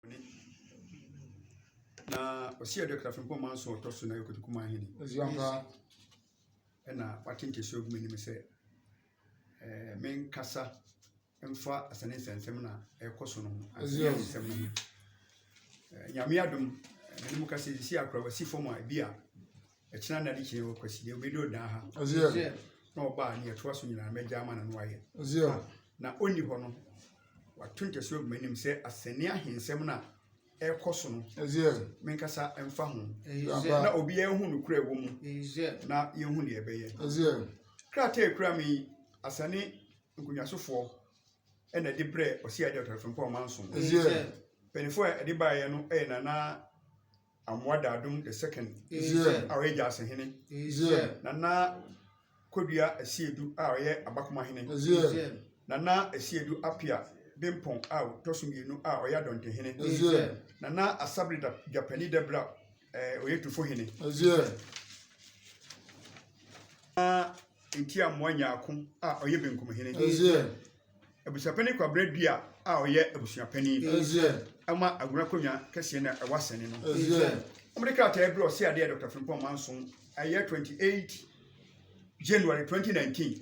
ne ɔbea no wu. Na Ɔsia dua kra firimpɔn maa nson ɔtɔ so na yɛ kotoku maa hene. Ɔsia mpa ɛna wate nkesua ogu m'anim sɛ ɛɛ menkasa mfa asane nsɛnsɛm na ɛkɔ so no ho asane nsɛm no ho. Nyame adom, ɛne mu kasa sisi akora wasi fam a ebi a ɛkyena na de kyerɛ wɔ kwasi deɛ obɛdi ɔdan ha na ɔbaa ne ɛtoa so nyinaa mɛgya ama na no ayɛ na ɔnni hɔ no wato ntɛso agu m'anim sɛ asɛnne ahensɛm no a ɛkɔ so no menkasa mfa ho na obiara hu no kura wɔ mu na yɛhu deɛ ɛbɛyɛ krataa ɛkura me yi asane nkonnwasofoɔ ɛna ɛde brɛ ɔsi adeɛ ɔtɔrɔfo mpa ɔmanso mpanimfoɔ a ɛde baeɛ no ɛyɛ nana Amoa Daadom the second a ɔyɛ Gyaase hene, Nana Kodua Asiedu a ɔyɛ Abakoma hene, Nana Asiedu Apia Bempong a ɔtɔ so mmienu a ɔyɛ Adɔnte hene, Nana Asabere Gyapani Dɛbra a ɔyɛ Tufo hene, Nana Ntiamoa Nyarko a ɔyɛ Benkum hene. Abusuapanin Kwabrɛ Dua a ɔyɛ abusuapanin ma Agona Konwa kɛseɛ no a ɛwɔ Asɛne no. Wɔde krataa bi ɔse adeɛ Dr. Frimpong Manso ɛyɛ 28 January 2019.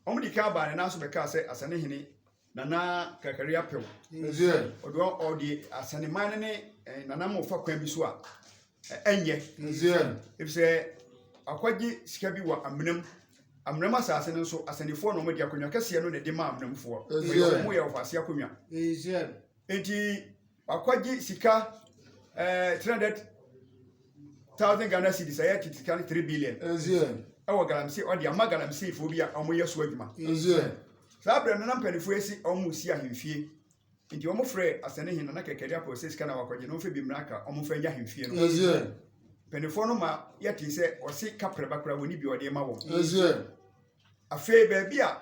Wɔde kan abaa ne nan so bɛkaa sɛ Asɛne hene Nana Kakari Apew. Ɔde ɔde Asɛne man no ne eh, nanam ɔfa kwan bi so a ɛnyɛ. Efisɛ akwagye sika bi wɔ amenam Amnam asase no nso, asɛnnifoɔ na wɔde akonnwa kɛseɛ no na ɛde maa amnamfoɔ. Wɔyɛ wɔn mu yɛ ɔfaase akonnwa. Enti wakɔgye sika eh, 300 thousand Ghana cedis ɛyɛ tete sika no 3 billion ɛwɔ galamsey ɔde ama galamseyfoɔ bi a wɔyɛ so adwuma. Saa berɛ no na mpanimfoɔ asi wɔn si ahemfie. Enti wɔfrɛɛ asɛnnennen no, na Kɛkɛri apɔw sɛ sika na wɔakɔgye, na ɔmfa bi mmra ka wɔmfa nnya ahemfie no. Mpanimfoɔ no ma yɛtee sɛ ɔse kaprɛba koraa wɔnni bi a ɔde rema wɔn. Afei baabi a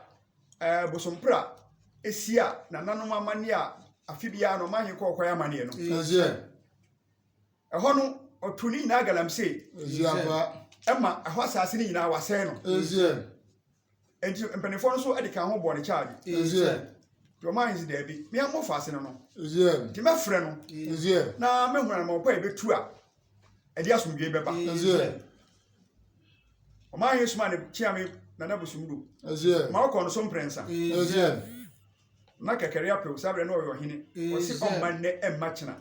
ɛɛ Bosompra si a nananom amanneɛ a afe biara no ɔman he kɔ ɔkɔyɛ amanneɛ no, ɛhɔ no ɔtoo ne nyinaa galamsey ma ɛhɔ asase no nyinaa wɔasɛe no. Enti mpanimfoɔ no nso de kan ho bɔɔ ne kyaagye. Nti ɔmaa no sɛ daabi, me a mofa ase no no. Nti mɛfrɛ no na mɛhunu anama ɔkɔ a ɛbɛtu a ɛde asomdwoe bɛba. Ɔmaa Yesu maa ne kyeame nana bosom du. Ma ɔkɔ no so mprɛnsa. Na kɛkɛre apɛw saa berɛ na ɔyɛ ɔhene. Ɔse ɔmma nnɛ ɛmma kyena.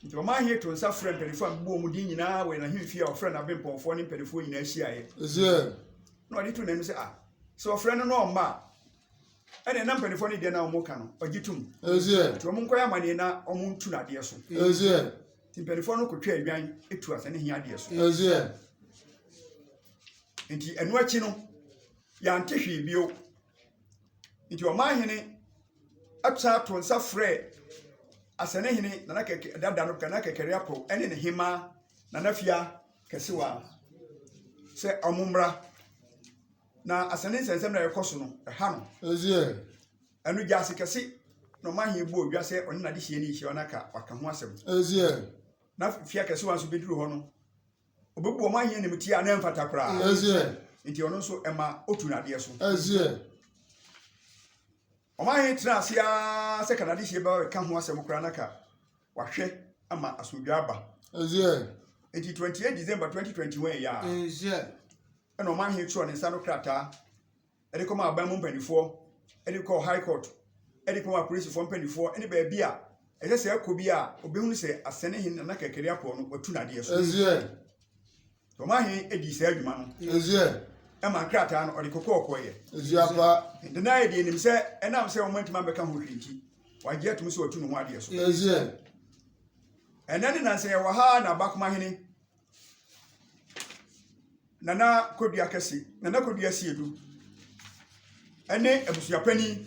Enti ɔmaa he too nsa frɛɛ mpanyimfoɔ a mebobɔɔ wɔn din nyinaa wɔ yɛn ahemfie a ɔfrɛɛ n'abempɔnfoɔ ne mpanimfoɔ nyinaa hyiaeɛ, na ɔde too n'anim sɛ, Ah, sɛ ɔfrɛ no na ɔmma a, ɛnneɛ na mpanimfoɔ no deɛ na wɔka no, ɔgye tom. Nti wɔnkɔyɛ amanneɛ na wɔntu n'adeɛ so. Nti mpanimfoɔ no kɔtwaa adwan tu asɛne he adeɛ so. Nti ɛno akyi no, yɛante hwee bio. Nti ɔmaa hene Ɔsan too nsa frɛɛ Asɛnɛhene Nana Kɛkɛ dada no Nana Kɛkɛre Apaw ne ne hemmaa Nana Fia Kɛsewa sɛ wɔmmra. Na asɛnne nsɛnsɛm na ɛkɔ so no, ɛha no. Ɛdeɛ. Ɛno gyaase kɛse na ɔma he bɔɔ dwa sɛ ɔne n'adehyeɛ no rehyia na ka waka ho asɛm. Ɛdeɛ. Na Fia Kɛsewa nso bɛduru hɔ no, Ɔbɛbu wɔn ayɛ animtia a na ɛmfata koraa. Nti ɔno nso ɛma ɔtu n'adeɛ so. Wɔn ahe tena ase ara sɛ kanadehyeɛ bɛka ho asɛm koraa na ka wahwɛ ama asomdwa aba. Nti 28 December 2021 yɛ a ɛna wɔn ahe twerɛ ne nsa no krataa de kɔma aban mu mpanimfoɔ, de kɔ high court, de kɔma apolisifoɔ mpanimfoɔ ne baabi a ɛsɛ sɛ ɛkɔ bi a obɛhunu sɛ asɛne he nana kɛkɛre apɔ no watu n'adeɛ so. Tɔma he dii saa adwuma no. Ɛma nkrataa no ɔde kokɔɔ kɔeɛ. Nana yɛ deɛ nim sɛ ɛnam sɛ wɔn antumi ambɛka ho hwee nti, wagye atum sɛ watu ne ho adeɛ so. Ɛnɛ ne nansa yɛwɔ ha na Bakoma hene Nana Kodua Kɛse, Nana Kodua Siedu ne abusuapanin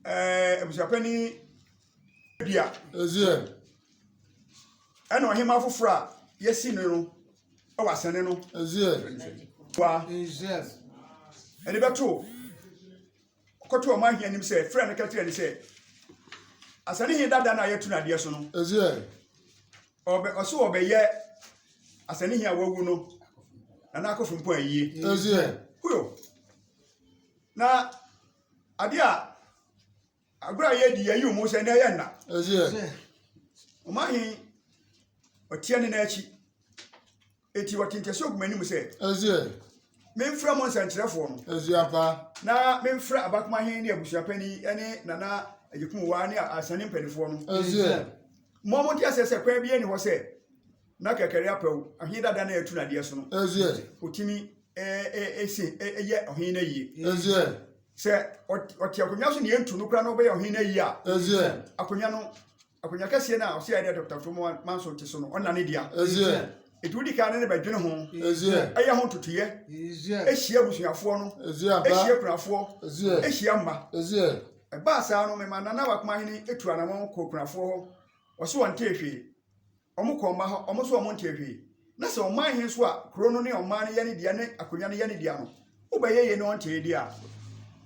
ɛɛ abusuapanin Dua. Ɛzeɛ. Ɛna ɔhema foforɔ a yɛsi no no wɔ asɛne no. Ɛzeɛ. Wa. Ɛzeɛ. Ɛde bɛto. ɔkɔto ɔman he anim sɛ, frɛɛ no ka kyerɛɛ no sɛ, asane he dada no a yɛto no adeɛ so no, ɔbɛ, ɔse ɔbɛyɛ asane he a wawu no na n'akofo mpo ayie. Huyo. Na adeɛ a agorɔ a yɛdi yɛyi ɔmo sɛ na ɛyɛ nna. Ɔman he ɔteɛ ne n'akyi. Enti ɔte nka sɛ ogu m'anim sɛ. Ɛseɛ. Memfrɛ mo nsɛnkyerɛfoɔ no. Asuafa. Na memfrɛ abakomahen ne abusuapani ne nana agyekumuwa ne asane mpanimfoɔ no. Ɛseɛ. Mo mo nte aseɛ sɛ kwan bi ani hɔ sɛ na kɛkɛre apɛw ɔhen dada na ɛtu nadeɛ so no. Ɛseɛ. Ɔtumi ɛse ɛyɛ ɔhen no ayie. Ɛseɛ. Sɛ ɔte akonnwa so na yɛntu no koraa na ɔbɛyɛ ɔhen no ayie a. Ɛseɛ. Akonnwa no. Akonnwa kɛseɛ no a ɔsɛ yɛde Dr. Fomoa Manso te so no, ɔnna ne dea. Ɛti wodi kan ne ne bɛdwene ho, ɛyɛ ho ntotoyɛ, ɛhyia abusuafoɔ no, ɛhyia kunafoɔ, ɛhyia mma. Ɛbaa saa no, mema Nana Wakomahene ɛtu anamɔn kɔɔ kunafoɔ hɔ, ɔse ɔntee hwee. Wɔn kɔ mma hɔ, wɔn nso wɔn ntee hwee. Na sɛ ɔman he nso a kuro no ne ɔman no yɛ ne dea ne akonwa no yɛ ne dea no, wobɛyɛ yei na ɔntee deɛ a,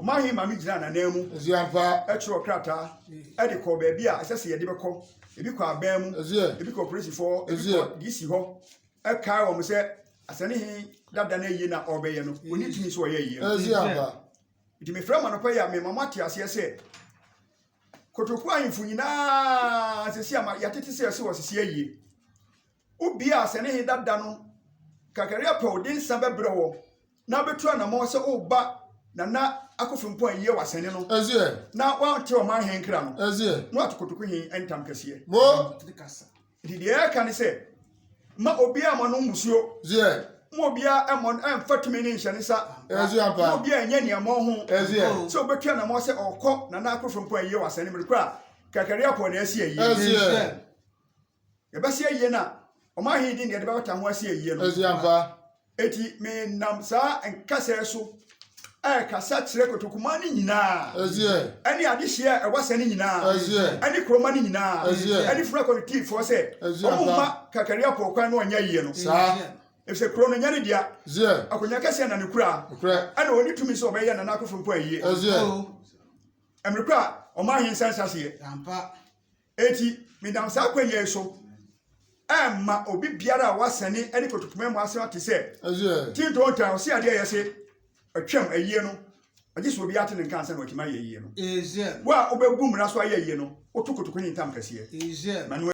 ɔman he maame gyinaa n'anan mu kyerɛw krataa de kɔɔ baabi a ɛsɛ sɛ yɛde bɛkɔ. Ebi kɔ aban mu, ebi kɔ polisifɔɔ, ebi kɔ DC hɔ. Ɛkae wɔn sɛ asɛne he dada no ayie na ɔrebɛyɛ no, onni tumi sɛ ɔyɛ ayie no. Nti mefrɛ mo anɔpa yi a mema moate aseɛ sɛ, Kotoku ahemfo nyinaa sisi ama yɛtete sɛ ɛsɛ wɔsisi ayie. Wobie a sɛ ne he dada no kakari apɛ ɔde nsa bɛbrɛ wɔ na abɛtu anamɔ sɛ woba nana akofo mpo ayie wasɛne no na wate ɔman he nkra no na wate kotoku he ntam kɛseɛ. Nti deɛ yɛka ne sɛ, mma obiara mma no mmusuo. Zeɛ. Mma obiara mmɔ no mfa tumi ne nhyɛ ne nsa. Ɛzeɛ ampa. Mma obiara nyɛ nea mmɔ ho. Ɛzeɛ. Sɛ obetu anamɔ sɛ ɔkɔ na na akoro fam pɔn ayie wɔ asɛn no mu kora a, kakari apɔ na ɛsi ayie. Ɛzeɛ. Yɛbɛsi ayie na ɔman he din deɛ yɛde bɛbata ho asi ayie no. Ɛzeɛ ampa. Enti menam saa nkasa yi so rekasa kyerɛ kotokumaa no nyinaa, ɛne adehyeɛ a ɛwɔ asɛ no nyinaa, ɛne kuroma no nyinaa, ɛne funu akɔnetifoɔ sɛ, wɔn mma Kakaria pɔɔ kwan na ɔnyɛ yie no. Efisɛ kuro no nyɛ ne dea, akonnwa kɛseɛ na ne kura, ɛna ɔne tumi sɛ ɔbɛyɛ nana akofo mpo ayie. Ɛmere koro a ɔman he nsa nhyɛ aseɛ. Enti menam saa kwan yi so rema obi biara a wasane ne koto koma mu asɛm ate sɛ, Ti ntontan, ɔse adeɛ a ɛyɛ se atwam ayie no, agye sɛ obiara te ne nka ansa na watumi ayɛ ayie no. Wo a wobɛbu mmara so ayɛ ayie no, woto kotoku ne ntam kɛseɛ. Ma no